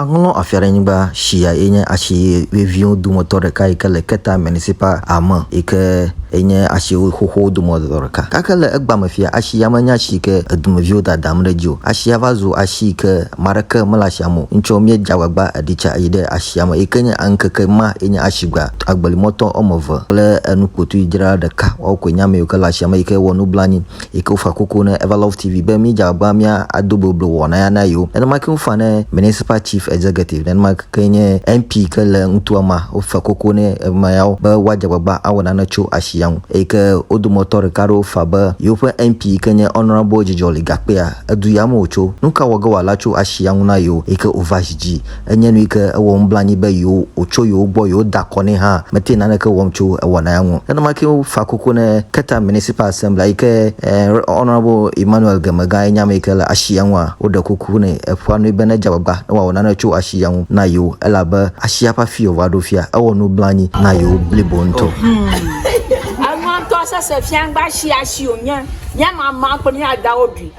Aŋlɔ afia ɖe nyigba shia ye nye ashi veviwo dometɔ ɖeka yi ke le Keta Municipal Ame yi ke enye ashi xoxowo dometɔ ɖeka. Gake le egbame fia, ashi ya menye ashi yi ke edumeviwo dadam ɖe edzi o. Ashia va zu ashi yi ke ame aɖeke mele ashia me o. Ŋtsɔ míedze agbagba eɖi tsa yi ɖe ashia me yi ke nye ŋkeke ma ye nye ashigba. Agbelimɔtɔ wɔme eve kple enukpotuidzrala ɖeka woawo koe nye ame yiwo ke le ashia me yi ke wɔ nublanui. Yi ke wofa kuku ne Everlove TV be mídze agbagba mía ado boblo wɔna ya na yewo. Nenema ke wofa ne Municipal Chief Executive, nenema ke nye MP ke le nutoa mea, wofa kuku ne ame yawo be woadze agbagba awɔ nane tso asi ya ŋu. Eyi ke wo dometɔ ɖeka aɖewo fa be yewoƒe MP yi ke nye Honourable Dzidzɔli Gakpea, edu ya me wòtso. Nu ka wɔ ge wòala tso asi ya ŋu na yewo? Eyi ke wova zi dzi. Enye nu yi ke ewɔ nublanui be yewo wòtso yewo gbɔ yewode akɔ nɛ hã mete naneke wɔm tso ewɔna ya ŋu. Nenema kee wofa kuku ne Keta Municipal Assembly yi ke Ret. Honourable Emmanuel Gemega ye nye ame yi ke le ashi ya ŋua, woɖe kuku nɛ, eƒoa nue be nedze agbagba ne wòawɔ nane tso ashi ya ŋu na yewo elabe ashia ƒe afii wòva ɖo fia ewɔ nublanui na yewo blibo ŋutɔ. Enuɔ ŋutɔ sese fia ŋgbe ashi ashi wònye. Míama maa kple mía dawo ɖui.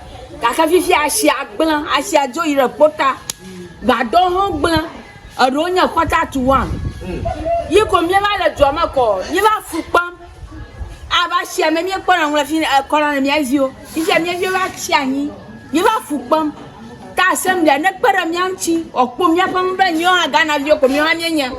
gake fifia asia gblẽ, asia dzo yi ɖe ƒuta, gbadɔwo hã gblẽ, eɖewo nye quarter to one, yi ko míeva le dua me kɔ, míeva afu kpem, abe asia me míekpɔna nu le fi kɔna na mía viwo, fifia mía viwo va tsi anyi, míeva afu kpem, ke asem ɖea, nekpe ɖe mía ŋuti wòakpɔ míaƒe nu be míwo hã Ghanaviwo ko míwo hã míenye,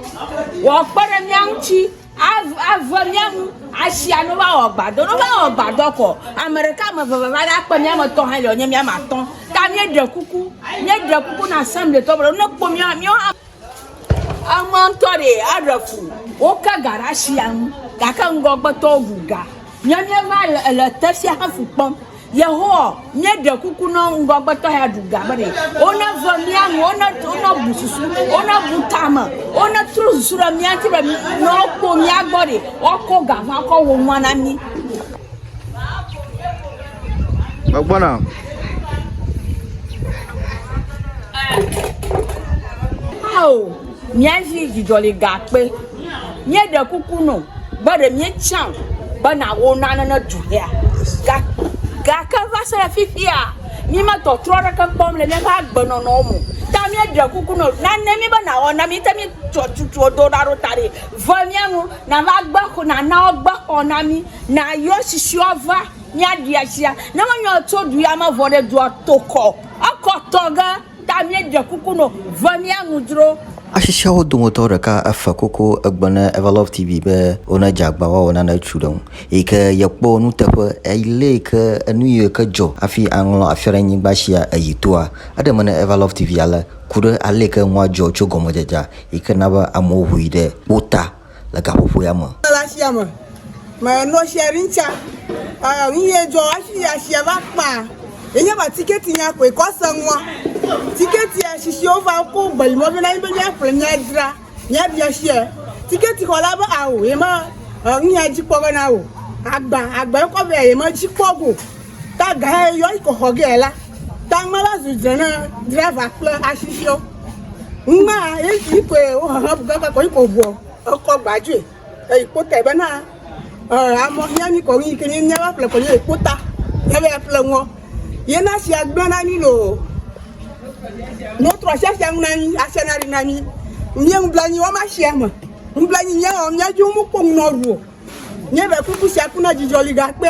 wòakpe ɖe mía ŋuti. Ave mía ŋu asia no va wɔ gbadɔ, no va wɔ gbadɔ kɔ. Ame ɖeka, ame eve va ɖa kpe mía me tɔ hã le wònye mía me atɔ. Ta mía ɖe kuku, mía ɖe kuku na asem le tɔ be ne kpɔ mía, mía hã. Ema ŋutɔ ɖe aɖe ku. Wo ke ga ɖe asia ŋu gake ŋgɔgbe tɔwo ŋu ga. Mía mía va le, le te sia hafi kpɔm. Yehowa, míeɖe kuku nɔ ŋgɔgbetɔ ya ɖu ga be wona ve mía nu, wona wona bu susu, wona bu tame, wona trɔ susu ɖe mía ŋuti be ne wokpɔ mía gbɔ ɖi, woakɔ ga va kɔ wɔ nua na mí. Megbɔna. Ao. Míazi dzidzɔligakpe. Míeɖe kuku nɔ be ɖe míetsã o be nàwɔ nane ne du hea. Ga, gake va se ɖe fifia, míemetɔtrɔ aɖeke kpɔm le míaƒe agbenɔnɔwo me o. Ta míeɖe kuku nɔ nane mí be nàwɔ na mí. Te míetsɔ tutuwo do ɖa ɖo ta ɖi. Ve mía nu, nàva gbe xɔ, nàna wogbe xɔ na mí. Nàyɔ susɔewo ava míaɖi asia. Ne menye wò tso du ya me vɔ ɖe, dua tokɔ. Ekɔ tɔ ge. Ta míeɖe kuku nɔ ve mía nu dzro. Ashi siawo dometɔ ɖeka efe koko egbe ne Everlove TV be wone dze agba woawɔ nane etsu ɖe ŋu eyi ke yekpɔ nuteƒe eyi le yi ke enu yi ke dzɔ hafi aŋlɔ afia ɖe nyigba shia eyi toa. Eɖe me ne Everlove TV ale ku ɖe ale yi ke nua dzɔ tso gɔmedzedzea yi ke na be amewo ŋui ɖe wo ta. le gaƒoƒoea me. Le asia me, me nɔ share ɖin tsa, eh, nu ye dzɔ ashi ya share va kpa, ye nye ba ticket nya koe kɔ se ŋua, ticket ya shishi wo va ko gbe yi mɔ be na yi be mia ƒle mia dzra, mia bia share, ticket xɔ la be ao ye me, eh, nu ya dzi kpɔ be na o, agba, agba ye kɔ vɛ ye me dzi kpɔ go. Ta gae yɔ iko xɔ ge la, ta ŋme la zu dze na driver kple asisio. Ŋmea esi ikoe wo hehe bu gaka kɔ iko vuɔ ekɔ gbadzoe. Eyi kpota be na eh, amɔ hia ni kɔ yi ke ni nya va ƒle kɔ nye kpota. Nya be ƒle ŋɔ. Ye na sia gblɔ na ni lo. No trɔ sia sia ŋu na ni, asia na ri na ni. Nye ŋu bla nyi wa ma sia me. Ŋu bla nyi nya wa nya ju mu kpo ŋu na ru. Nye be kuku sia ku na dzidzɔ li gakpe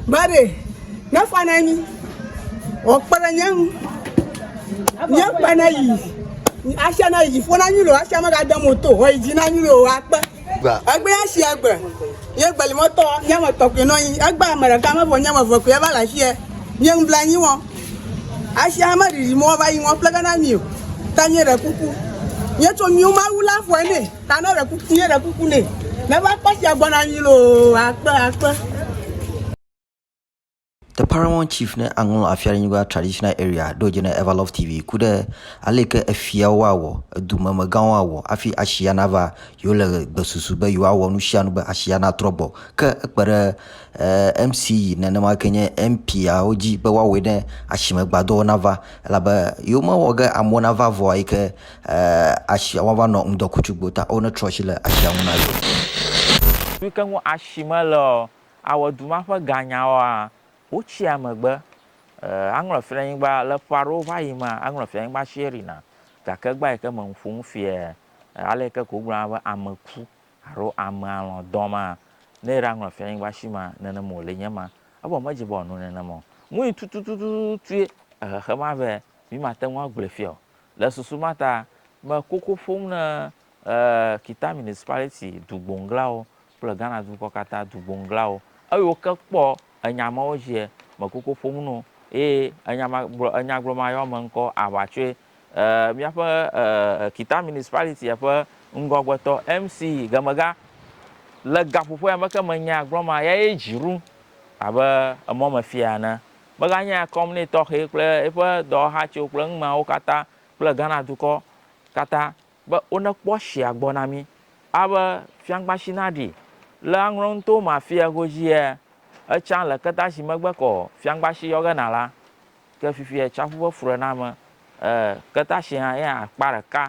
Mary nefa na nyi o kpe ɖe nye ŋu. Nye kpe na yi asia na yi dzi ƒo na nyi lo asia me ga dem o to o yi dzi na nyi lo akpe. Egbe ya si egbe nye gbe li mɔtɔ nye me tɔ kpe no nyi egbe ame ɖeka me vo nye me vo kpe va la sia nye ŋu bla nyi wo. Asia me ɖiɖi mo va yi ŋɔ ƒle ga na mi o ta nye ɖe kuku. Nye tso mi ma wu la ƒo ne. Ta ne ɖe kuku ne ɖe kuku ne. Ne va kpɔ sia gbɔna anyi loo akpe akpe. The Paramount Chief ne aŋlɔ Afiaɖenyigba Traditional Area ɖo dze ne Everlove TV ku ɖe ale yi ke efiawo awɔ, edumemegãwo awɔ hafi ashia nava yewo le gbesusu be yewoawɔ nu sia nu be ashia natrɔ gbɔ. Ke ekpe ɖe eh, MCE nenema ke nye MPawo dzi be woawɔe ne asime gbadɔwo nava elabe yewomewɔ ge amewo nava vɔa yi ke Asia woava nɔ ŋdɔkutsu gbo ta o ne trɔ asi le asia ŋu na yewo. Nu ke ŋu asi mele o awɔ du ma ƒe ganya oa? Wotsia megbe. Aŋlɔ fianyigba le ƒe aɖewo va yi mea, aŋlɔ fianyigba si erina. Gake egba yi ke me ŋu ƒom fia ale yi ke ko wogblɔna be ame ku alo ame alɔ̃ dɔ ma, ne era ŋlɔ fianyigba si mea, nenem wòle nye ma. Evɔ medze be wòano nenem o. Nui tututututuie ehexe ma vɛ mi mate ŋu agblɔe fia o. Le susu ma ta, me koko ƒom ne Kita Municipality dugbonglawo kple Ghana dukɔ katã dugbonglawo. Eyiwo ke kpɔ enya mawo dziɛ, me koko ƒom no ye enya ma gblɔ, enya gblɔ ma yɔ me ŋkɔ aʋa tsoe. Míaƒe Kita Municipality ƒe ŋgɔgbetɔ, MC Gemega, le gaƒoƒoea me ke me nya gblɔ ma, ya ye dzi ɖum abe emɔmefia ene. Meganye akɔm nɛ tɔxɛ kple eƒe dɔwɔhatsiwo kple eŋmeawo katã kple Ghana dukɔ katã be wonekpɔ tsia gbɔ na mí. Abe fiaŋkpatsi naɖi le aŋlɔ nuto ma fia godziia, etsã le ketatsi megbe kɔ fiaŋkpatsi yɔ ge na la, ke fifia tsiaƒu ƒe fuɖename e ketatsi hã ye hã akpa ɖeka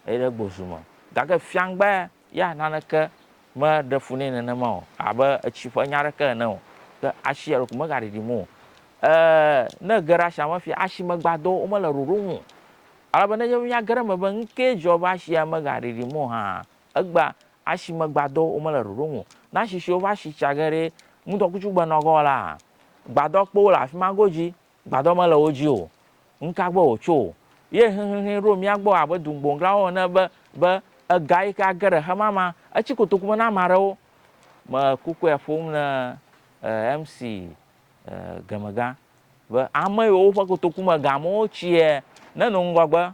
yi ɖe gbozu me. Gake fiaŋkpae Ya naneke meɖe fu nɛ nenema o, abe etsi ƒe nya aɖeke ene o, ke asi eɖokui megaɖiɖim o. E, ne ege ɖe asia me fia, asimegbadɔwo mele ɖoɖo ŋu o. Ale be nenye be míage ɖe eme be nu kae dzɔ be asia megaɖiɖim o hã, egbea, asimegbadɔwo mele ɖoɖo ŋu o. Ne asi siwo va si tsa ge ɖe ŋudɔkutsu gbenɔgɔ la, gbadɔkpowo le afi ma godzi. Gbadɔ mele wo dzi o, nuka gbɔ wòtso? Ye xexexee ɖo mía gbɔ abe dugboŋglawo ene be, be, Ega yi ke age ɖe xemama, etsi kotoku me na ame aɖewo. Mele kukue ƒom ne eh, MC eh, Gemegã, be ame yiwo woƒe kotoku me gamewo tsiɛ, nenɔ ŋgɔgbe